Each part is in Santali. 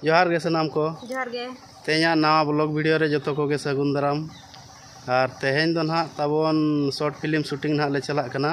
ᱡᱚᱦᱟᱨ ᱜᱮ ᱥᱟᱱᱟᱢ ᱠᱚ ᱡᱚᱦᱟᱨ ᱜᱮ ᱛᱮᱦᱮᱧᱟᱜ ᱱᱟᱣᱟ ᱵᱞᱚᱜ ᱵᱷᱤᱰᱤᱭᱳ ᱨᱮ ᱡᱚᱛᱚ ᱠᱚᱜᱮ ᱥᱟᱹᱜᱩᱱ ᱫᱟᱨᱟᱢ ᱟᱨ ᱛᱮᱦᱮᱧ ᱫᱚ ᱱᱟᱦᱟᱜ ᱛᱟᱵᱚᱱ ᱥᱚᱨᱴ ᱯᱷᱤᱞᱢ ᱥᱩᱴᱤᱝ ᱱᱟᱦᱟᱜ ᱞᱮ ᱪᱟᱞᱟᱜ ᱠᱟᱱᱟ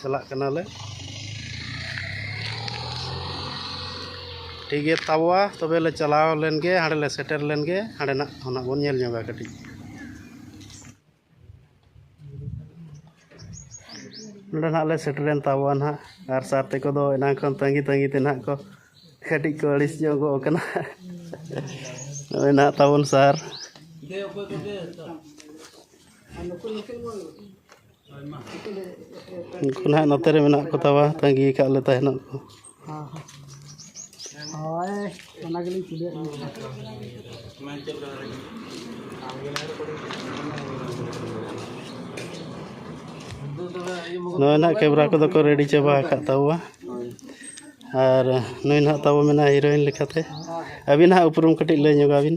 ᱪᱟᱞᱟᱜ ᱠᱟᱱᱟᱞᱮ ᱴᱷᱤᱠ ᱜᱮᱭᱟ ᱛᱟᱵᱚᱣᱟ ᱛᱚᱵᱮ ᱞᱮ ᱪᱟᱞᱟᱣ ᱞᱮᱱ ᱜᱮ ᱦᱟᱸᱰᱮ ᱞᱮ ᱥᱮᱴᱮᱨ ᱞᱮᱱ ᱜᱮ ᱦᱟᱸᱰᱮᱱᱟᱜ ᱦᱚᱸ ᱱᱟᱜ ᱵᱚᱱ ᱧᱮᱞ ᱧᱚᱜᱟ ᱠᱟᱹᱴᱤᱡ ᱱᱚᱰᱮ ᱱᱟᱜ ᱞᱮ ᱥᱮᱴᱮᱨᱮᱱ ᱛᱟᱵᱚᱣᱟ ᱱᱟᱜ ᱟᱨ ᱥᱟᱨ ᱛᱮᱠᱚ ᱫᱚ ᱮᱱᱟᱝ ᱠᱷᱚᱱ ᱛᱟᱺᱜᱤ ᱛᱟᱺᱜᱤ ᱛᱮ ᱱᱟᱜ ᱠᱚ ᱠᱟᱹᱴᱤᱡ ᱠᱚ ᱟᱹᱲᱤᱥ ᱧᱚᱜᱚᱜ ᱠᱟᱱᱟ ᱱᱚᱜᱼᱚᱭ ᱱᱟᱜ ᱛᱟᱵᱚᱱ ᱥᱟᱨ ᱩᱱᱠᱩ ᱱᱟᱜ ᱱᱚᱛᱮ ᱨᱮ ᱢᱮᱱᱟᱜ ᱠᱚᱛᱟ ᱠᱚᱣᱟ ᱛᱟᱹᱜᱤ ᱠᱟᱜ ᱞᱮ ᱛᱟᱦᱮᱱᱚᱜ ᱠᱚ ᱱᱚᱜᱼᱚᱭ ᱱᱟᱜ ᱠᱮᱢᱨᱟ ᱠᱚᱫᱚ ᱠᱚ ᱨᱮᱰᱤ ᱪᱟᱵᱟ ᱟᱠᱟᱫ ᱛᱟᱵᱚᱣᱟ ᱟᱨ ᱱᱩᱭ ᱱᱟᱜ ᱛᱟᱵᱚ ᱢᱮᱱᱟᱭᱟ ᱦᱤᱨᱳᱭᱤᱱ ᱞᱮᱠᱟᱛᱮ ᱟᱹᱵᱤᱱ ᱦᱟᱸᱜ ᱩᱯᱨᱩᱢ ᱠᱟᱹᱴᱤᱡ ᱞᱟᱹᱭ ᱧᱚᱜᱟᱵᱤᱱ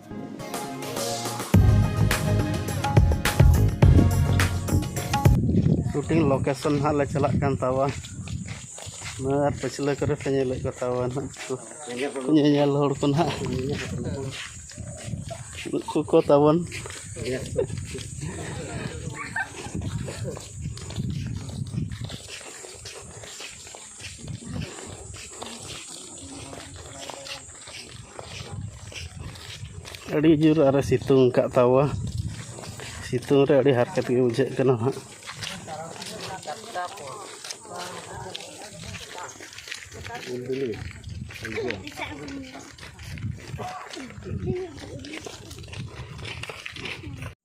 ᱥᱩᱴᱤᱝ ᱞᱳᱠᱮᱥᱚᱱ ᱦᱟᱸᱜ ᱞᱮ ᱪᱟᱞᱟᱜ ᱠᱟᱱ ᱛᱟᱵᱚᱱ ᱟᱨ ᱯᱟᱹᱪᱷᱞᱟᱹ ᱠᱚᱨᱮ ᱯᱮ ᱧᱮᱞᱮᱫ ᱠᱚ ᱛᱟᱵᱚᱱ ᱧᱮᱧᱮᱞ ᱦᱚᱲ ᱠᱚ ᱱᱟᱦᱟᱜ ᱱᱩᱠᱩ ᱠᱚ ᱛᱟᱵᱚᱱ ᱟᱹᱰᱤ ᱡᱳᱨ ᱟᱨᱚ ᱥᱤᱛᱩᱝ ᱟᱠᱟᱫ ᱛᱟᱵᱚᱣᱟ ᱥᱤᱛᱩᱝ ᱨᱮ ᱟᱹᱰᱤ ᱦᱟᱨᱠᱮᱛ ᱜᱮ ᱵᱩᱡᱷᱟᱹᱜ ᱠᱟᱱᱟ ᱦᱟᱸᱜ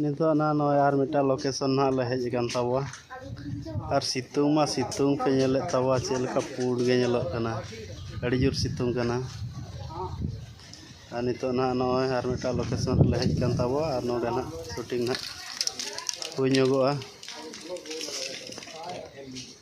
ᱱᱤᱛᱚᱜ ᱱᱟᱦᱟᱜ ᱱᱚᱜᱼᱚᱸᱭ ᱟᱨ ᱢᱤᱫᱴᱟᱝ ᱞᱳᱠᱮᱥᱚᱱ ᱱᱟᱦᱟᱜ ᱞᱮ ᱦᱮᱡ ᱟᱠᱟᱱ ᱛᱟᱵᱚᱣᱟ ᱟᱨ ᱥᱤᱛᱩᱝ ᱢᱟ ᱥᱤᱛᱩᱝ ᱯᱮ ᱧᱮᱞᱮᱫ ᱛᱟᱵᱚᱣᱟ ᱪᱮᱫ ᱞᱮᱠᱟ ᱯᱩᱸᱰ ᱜᱮ ᱧᱮᱞᱚᱜ ᱠᱟᱱᱟ ᱟᱹᱰᱤ ᱡᱳᱨ ᱥᱤᱛᱩᱝ ᱠᱟᱱᱟ ᱟᱨ ᱱᱤᱛᱚᱜ ᱱᱟᱦᱟᱜ ᱱᱚᱜᱼᱚᱸᱭ ᱟᱨ ᱢᱤᱫᱴᱟᱝ ᱞᱳᱠᱮᱥᱚᱱ ᱨᱮᱞᱮ ᱦᱮᱡ ᱟᱠᱟᱱ ᱛᱟᱵᱚᱣᱟ ᱟᱨ ᱱᱚᱰᱮ ᱱᱟᱦᱟᱜ ᱥᱩᱴᱤᱝ ᱱᱟᱦᱟᱜ ᱦᱩᱭ ᱧᱚᱜᱚᱜᱼᱟ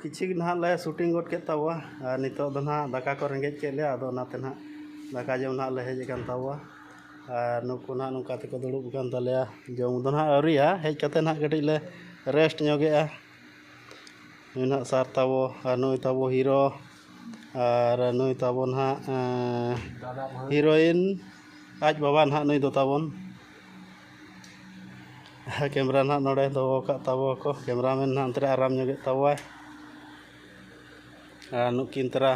ᱠᱤᱪᱷᱩ ᱱᱟᱦᱟᱜ ᱞᱮ ᱥᱩᱴᱤᱝ ᱜᱚᱫ ᱠᱮᱫ ᱛᱟᱵᱚᱣᱟ ᱟᱨ ᱱᱤᱛᱚᱜ ᱫᱚ ᱱᱟᱦᱟᱜ ᱫᱟᱠᱟ ᱠᱚ ᱨᱮᱸᱜᱮᱡ ᱠᱮᱫ ᱞᱮᱭᱟ ᱟᱫᱚ ᱚᱱᱟᱛᱮ ᱱᱟᱦᱟᱜ ᱫᱟᱠᱟ ᱡᱚᱢ ᱱᱟᱦᱟᱜ ᱞᱮ ᱦᱮᱡ ᱟᱠᱟᱱ ᱛᱟᱵᱚᱣᱟ ᱟᱨ ᱱᱩᱠᱩ ᱱᱟᱦᱟᱜ ᱱᱚᱝᱠᱟ ᱛᱮᱠᱚ ᱫᱩᱲᱩᱵ ᱟᱠᱟᱱ ᱛᱟᱞᱮᱭᱟ ᱡᱚᱢ ᱫᱚ ᱱᱟᱦᱟᱜ ᱟᱹᱣᱨᱤᱭᱟ ᱦᱮᱡ ᱠᱟᱛᱮᱫ ᱱᱟᱦᱟᱜ ᱠᱟᱹᱴᱤᱡ ᱞᱮ ᱨᱮᱥᱴ ᱧᱚᱜᱮᱜᱼᱟ ᱱᱩᱭ ᱱᱟᱦᱟᱜ ᱥᱟᱨ ᱛᱟᱵᱚ ᱟᱨ ᱱᱩᱭ ᱛᱟᱵᱚ ᱦᱤᱨᱳ ᱟᱨ ᱱᱩᱭ ᱛᱟᱵᱚ ᱱᱟᱦᱟᱜ ᱦᱤᱨᱳᱭᱤᱱ ᱟᱡ ᱵᱟᱵᱟ ᱱᱟᱦᱟᱜ ᱱᱩᱭ ᱫᱚ ᱛᱟᱵᱚᱱ ᱠᱮᱢᱨᱟ ᱱᱟᱦᱟᱜ ᱱᱚᱰᱮ ᱫᱚᱦᱚ ᱟᱠᱟᱫ ᱛᱟᱵᱚ ᱠᱚ ᱠᱮᱢᱨᱟ ᱢᱮᱱ ᱱᱟᱦᱟᱜ ᱚᱱᱛᱮ ᱨᱮ ᱟᱨᱟᱢ ᱧᱚᱜᱮᱫ ᱛᱟᱵᱚᱣᱟᱭ ᱟᱨ ᱱᱩᱠᱤᱱ ᱛᱟᱨᱟ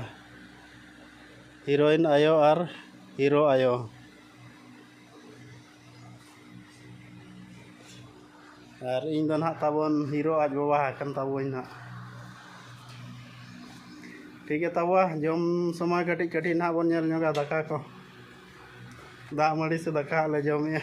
ᱦᱤᱨᱳᱭᱤᱱ ᱟᱭᱳ ᱟᱨ ᱦᱤᱨᱳ ᱟᱭᱳ ᱟᱨ ᱤᱧ ᱫᱚ ᱱᱟᱦᱟᱜ ᱛᱟᱵᱚᱱ ᱦᱤᱨᱳ ᱟᱡ ᱵᱟᱵᱟ ᱠᱟᱱ ᱛᱟᱵᱚᱱ ᱱᱟᱦᱟᱜ ᱴᱷᱤᱠ ᱜᱮ ᱛᱟᱵᱚᱣᱟ ᱡᱚᱢ ᱥᱚᱢᱚᱭ ᱠᱟᱹᱴᱤᱡ ᱠᱟᱹᱴᱤᱡ ᱱᱟᱦᱟᱜ ᱵᱚᱱ ᱧᱮᱞ ᱧᱚᱜᱟ ᱫᱟᱠᱟ ᱠᱚ ᱫᱟᱜ ᱢᱟᱹᱲᱤ ᱥᱮ ᱫᱟᱠᱟ ᱞᱮ ᱡᱚᱢᱮᱜᱼᱟ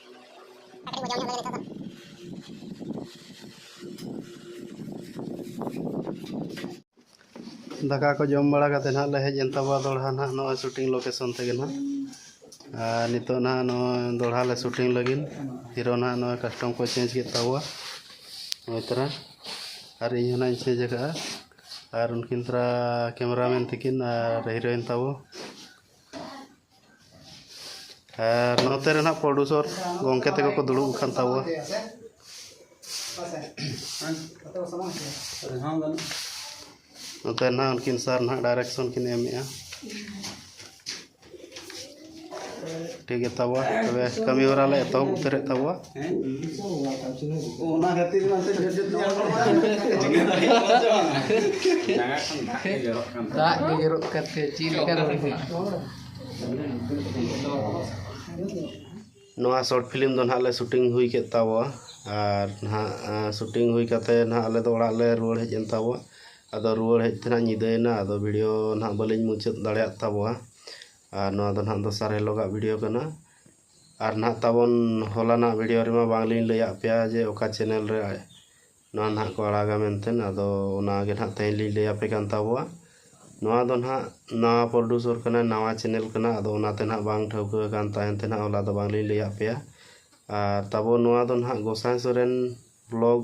ᱫᱟᱠᱟ ᱠᱚ ᱡᱚᱢ ᱵᱟᱲᱟ ᱠᱟᱛᱮ ᱱᱟᱦᱟᱜ ᱞᱮ ᱦᱮᱡ ᱮᱱ ᱛᱟᱵᱚᱱᱟ ᱫᱚᱲᱦᱟ ᱱᱟᱦᱟᱜ ᱱᱚᱜᱼᱚᱭ ᱥᱩᱴᱤᱝ ᱞᱳᱠᱮᱥᱚᱱ ᱛᱮᱜᱮ ᱱᱟᱦᱟᱜ ᱟᱨ ᱱᱤᱛᱚᱜ ᱱᱟᱦᱟᱜ ᱱᱚᱜᱼᱚᱭ ᱫᱚᱲᱦᱟ ᱞᱮ ᱥᱩᱴᱤᱝ ᱞᱟᱹᱜᱤᱫ ᱦᱤᱨᱳ ᱱᱟᱦᱟᱜ ᱱᱚᱜᱼᱚᱭ ᱠᱟᱥᱴᱚᱢ ᱠᱚ ᱪᱮᱧᱡᱽ ᱠᱮᱫ ᱛᱟᱵᱚᱣᱟ ᱱᱚᱜᱼᱚᱭ ᱛᱟᱨᱟ ᱟᱨ ᱤᱧ ᱦᱚᱸ ᱱᱟᱦᱟᱜ ᱤᱧ ᱪᱮᱧᱡᱽ ᱟᱠᱟᱫᱼᱟ ᱟᱨ ᱩᱱᱠᱤᱱ ᱛᱟᱨᱟ ᱠᱮᱢᱮᱨᱟᱢᱮᱱ ᱛᱟᱹᱠᱤᱱ ᱟᱨ ᱦᱤᱨᱳᱭᱤᱱ ᱛᱟᱵᱚ ᱟᱨ ᱱᱚᱛᱮ ᱨᱮ ᱱᱟᱜ ᱯᱨᱚᱰᱩᱥᱚᱨ ᱜᱚᱢᱠᱮ ᱛᱟᱠᱚ ᱠᱚ ᱫᱩᱲᱩᱵ ᱟᱠᱟᱱ ᱛᱟᱵᱚᱣᱟ ᱱᱚᱛᱮ ᱱᱟᱜ ᱩᱱᱠᱤᱱ ᱥᱟᱨ ᱱᱟᱜ ᱰᱟᱭᱨᱮᱠᱥᱚᱱ ᱠᱤᱱ ᱮᱢᱮᱜᱼᱟ ᱴᱷᱤᱠ ᱜᱮᱛᱟ ᱵᱚᱣᱟ ᱛᱚᱵᱮ ᱠᱟᱹᱢᱤ ᱦᱚᱨᱟ ᱞᱮ ᱮᱛᱚᱦᱚᱵ ᱩᱛᱟᱹᱨᱮᱫ ᱛᱟᱵᱚᱣᱟ ᱚᱱᱟ ᱠᱷᱟᱹᱛᱤᱨ ᱫᱟᱜ ᱜᱮ ᱡᱚᱨᱚᱜ ᱠᱟᱛᱮ ᱪᱮᱫ ᱞᱮᱠᱟ ᱱᱚᱣᱟ ᱥᱚᱨᱴ ᱯᱷᱤᱞᱢ ᱫᱚ ᱱᱟᱦᱟᱜ ᱞᱮ ᱥᱩᱴᱤᱝ ᱦᱩᱭ ᱠᱮᱫ ᱛᱟᱵᱚᱣᱟ ᱟᱨ ᱱᱟᱦᱟᱜ ᱥᱩᱴᱤᱝ ᱦᱩᱭ ᱠᱟᱛᱮ ᱱᱟᱦᱟᱜ ᱟᱞᱮ ᱫᱚ ᱚᱲᱟᱜ ᱞᱮ ᱨᱩᱣᱟᱹᱲ ᱦᱮᱡ ᱮᱱ ᱛᱟᱵᱚᱣᱟ ᱟᱫᱚ ᱨᱩᱣᱟᱹᱲ ᱦᱮᱡ ᱛᱮ ᱱᱟᱦᱟᱜ ᱧᱤᱫᱟᱹᱭᱮᱱᱟ ᱟᱫᱚ ᱵᱷᱤᱰᱤᱭᱳ ᱱᱟᱦᱟᱜ ᱵᱟᱹᱞᱤᱧ ᱢᱩᱪᱟᱹᱫ ᱫᱟᱲᱮᱭᱟᱫ ᱛᱟᱵᱚᱣᱟ ᱟᱨ ᱱᱚᱣᱟ ᱫᱚ ᱱᱟᱦᱟᱜ ᱫᱚᱥᱟᱨ ᱦᱤᱞᱳᱜᱟᱜ ᱵᱷᱤᱰᱤᱭᱳ ᱠᱟᱱᱟ ᱟᱨ ᱱᱟᱦᱟᱜ ᱛᱟᱵᱚᱱ ᱦᱚᱞᱟᱱᱟᱜ ᱵᱷᱤᱰᱤᱭᱳ ᱨᱮᱢᱟ ᱵᱟᱝᱞᱤᱧ ᱞᱟᱹᱭᱟᱫ ᱯᱮᱭᱟ ᱡᱮ ᱚᱠᱟ ᱪᱮᱱᱮᱞ ᱨᱮ ᱱᱚᱣᱟ ᱱᱟᱦᱟᱜ ᱠᱚ ᱟᱲᱟᱜᱟ ᱢᱮᱱᱛᱮ ᱟᱫᱚ ᱚᱱᱟᱜᱮ ᱱᱟᱦᱟᱜ ᱛᱮᱦᱮᱧ ᱞᱤᱧ ᱞᱟᱹᱭ ᱟᱯᱮ ᱠᱟᱱ ᱛᱟᱵᱚᱣᱟ ᱱᱚᱣᱟ ᱫᱚ ᱱᱟᱦᱟᱜ ᱱᱟᱣᱟ ᱯᱨᱚᱰᱩᱥᱚᱨ ᱠᱟᱱᱟᱭ ᱱᱟᱣᱟ ᱪᱮᱱᱮᱞ ᱠᱟᱱᱟ ᱟᱫᱚ ᱚᱱᱟᱛᱮ ᱱᱟᱦᱟᱜ ᱵᱟᱝ ᱴᱷᱟᱹᱣᱠᱟᱹ ᱟᱠᱟᱱ ᱛᱟᱦᱮᱱ ᱛᱮ ᱱᱟᱦᱟᱜ ᱦᱚᱞᱟ ᱫᱚ ᱵᱟᱝᱞᱤᱧ ᱞᱟᱹᱭᱟᱫ ᱯᱮᱭᱟ ᱟᱨ ᱛᱟᱵᱚ ᱱᱚᱣᱟ ᱫᱚ ᱱᱟᱦᱟᱜ ᱜᱚᱸᱥᱟᱭ ᱥᱚᱨᱮᱱ ᱵᱞᱚᱜᱽ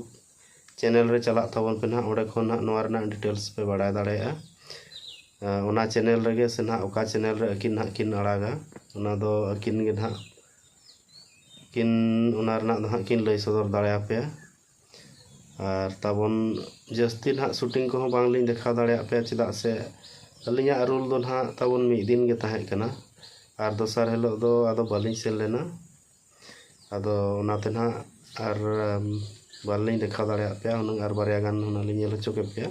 ᱪᱮᱱᱮᱞ ᱨᱮ ᱪᱟᱞᱟᱜ ᱛᱟᱵᱚᱱ ᱯᱮ ᱱᱟᱦᱟᱜ ᱚᱸᱰᱮ ᱠᱷᱚᱱ ᱱᱟᱦᱟᱜ ᱱᱚᱣᱟ ᱨᱮᱱᱟᱜ ᱰᱤᱴᱮᱞᱥ ᱯᱮ ᱵᱟᱲᱟᱭ ᱫᱟᱲᱮᱭᱟᱜᱼᱟ ᱚᱱᱟ ᱪᱮᱱᱮᱞ ᱨᱮᱜᱮ ᱥᱮ ᱱᱟᱦᱟᱜ ᱚᱠᱟ ᱪᱮᱱᱮᱞ ᱨᱮ ᱟᱹᱠᱤᱱ ᱱᱟᱦᱟᱜ ᱠᱤᱱ ᱟᱲᱟᱜᱟ ᱚᱱᱟ ᱫᱚ ᱟᱹᱠᱤᱱ ᱜᱮ ᱱᱟᱦᱟᱜ ᱠᱤᱱ ᱚᱱᱟ ᱨᱮᱱᱟᱜ ᱫᱚ ᱱᱟᱦᱟᱜ ᱠᱤᱱ ᱞᱟᱹᱭ ᱥᱚᱫᱚᱨ ᱫᱟᱲᱮᱭᱟᱯᱮᱭᱟ ᱟᱨ ᱛᱟᱵᱚᱱ ᱡᱟᱹᱥᱛᱤ ᱱᱟᱦᱟᱜ ᱥᱩᱴᱤᱝ ᱠᱚᱦᱚᱸ ᱵᱟᱝ ᱞᱤᱧ ᱫᱮᱠᱷᱟᱣ ᱫᱟᱲᱮᱭᱟᱜ ᱯᱮᱭᱟ ᱪᱮᱫᱟᱜ ᱥᱮ ᱟᱹᱞᱤᱧᱟᱜ ᱨᱳᱞ ᱫᱚ ᱱᱟᱦᱟᱜ ᱛᱟᱵᱚᱱ ᱢᱤᱫ ᱫᱤᱱ ᱜᱮ ᱛᱟᱦᱮᱸ ᱠᱟᱱᱟ ᱟᱨ ᱫᱚᱥᱟᱨ ᱦᱤᱞᱳᱜ ᱫᱚ ᱟᱫᱚ ᱵᱟᱹᱞᱤᱧ ᱥᱮᱱ ᱞᱮᱱᱟ ᱟᱫᱚ ᱚᱱᱟᱛᱮ ᱱᱟᱜ ᱟᱨ ᱵᱟᱞᱤᱧ ᱫᱮᱠᱷᱟᱣ ᱫᱟᱲᱮᱭᱟᱜ ᱯᱮᱭᱟ ᱦᱩᱱᱟᱹᱝ ᱟᱨ ᱵᱟᱨᱭᱟ ᱜᱟᱱ ᱦᱩᱱᱟᱹᱝ ᱞᱤᱧ ᱧᱮᱞ ᱦᱚᱪᱚ ᱠᱮᱫ ᱯᱮᱭᱟ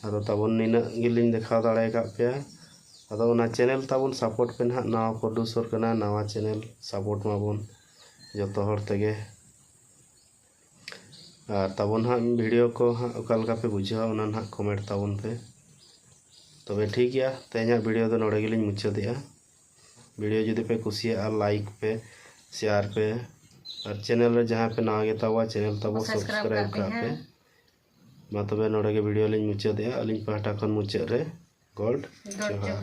ᱟᱫᱚ ᱛᱟᱵᱚᱱ ᱱᱤᱱᱟᱹᱜ ᱜᱮᱞᱤᱧ ᱫᱮᱠᱷᱟᱣ ᱫᱟᱲᱮ ᱠᱟᱜ ᱯᱮᱭᱟ ᱟᱫᱚ ᱚᱱᱟ ᱪᱮᱱᱮᱞ ᱛᱟᱵᱚᱱ ᱥᱟᱯᱳᱨᱴ ᱯᱮ ᱱᱟᱜ ᱱᱟᱣᱟ ᱯᱨᱚᱰᱩᱥᱚᱨ ᱠᱟᱱᱟ ᱱᱟᱣᱟ ᱪᱮᱱᱮᱞ ᱥᱟᱯᱳᱨᱴ ᱢᱟᱵᱚᱱ ᱡᱚᱛᱚ ᱦᱚᱲ ᱛᱮᱜᱮ ᱟᱨ ᱛᱟᱵᱚᱱ ᱦᱟᱸᱜ ᱵᱷᱤᱰᱤᱭᱳ ᱠᱚ ᱦᱟᱸᱜ ᱚᱠᱟ ᱞᱮᱠᱟ ᱯᱮ ᱵᱩᱡᱷᱟᱹᱣᱟ ᱚᱱᱟ ᱱᱟᱜ ᱠᱚᱢᱮᱱᱴ ᱛᱟᱵᱚᱱ ᱯᱮ ᱛᱚᱵᱮ ᱴᱷᱤᱠ ᱜᱮᱭᱟ ᱛᱮᱦᱮᱧᱟᱜ ᱵᱷᱤᱰᱤᱭᱳ ᱫᱚ ᱱᱚᱰᱮ ᱜᱮᱞᱤᱧ ᱢᱩᱪᱟᱹᱫᱮᱜᱼᱟ ᱵᱷᱤᱰᱤᱭᱳ ᱡᱩᱫᱤ ᱯᱮ ᱠᱩᱥᱤᱭᱟᱜᱼᱟ ᱞᱟᱭᱤᱠ ᱯᱮ ᱥᱮᱭᱟᱨ ᱯᱮ ᱟᱨ ᱪᱮᱱᱮᱞ ᱨᱮ ᱡᱟᱦᱟᱸᱭ ᱯᱮ ᱱᱟᱣᱟ ᱜᱮᱛᱟᱵᱚᱣᱟ ᱪᱮᱱᱮᱞ ᱛᱟᱵᱚ ᱥᱟᱵᱥᱠᱨᱟᱭᱤᱵ ᱠᱟᱜ ᱯᱮ ᱢᱟ ᱛᱚᱵᱮ ᱱᱚᱰᱮ ᱜᱮ ᱵᱷᱤᱰᱤᱭᱳ ᱞᱤᱧ ᱢᱩᱪᱟᱹᱫᱮᱜᱼᱟ ᱟᱹᱞᱤᱧ ᱯᱟᱦᱴᱟ ᱠᱷᱚᱱ ᱢᱩᱪᱟᱹᱫ ᱨᱮ ᱜᱚᱰ ᱡᱚᱦᱟᱨ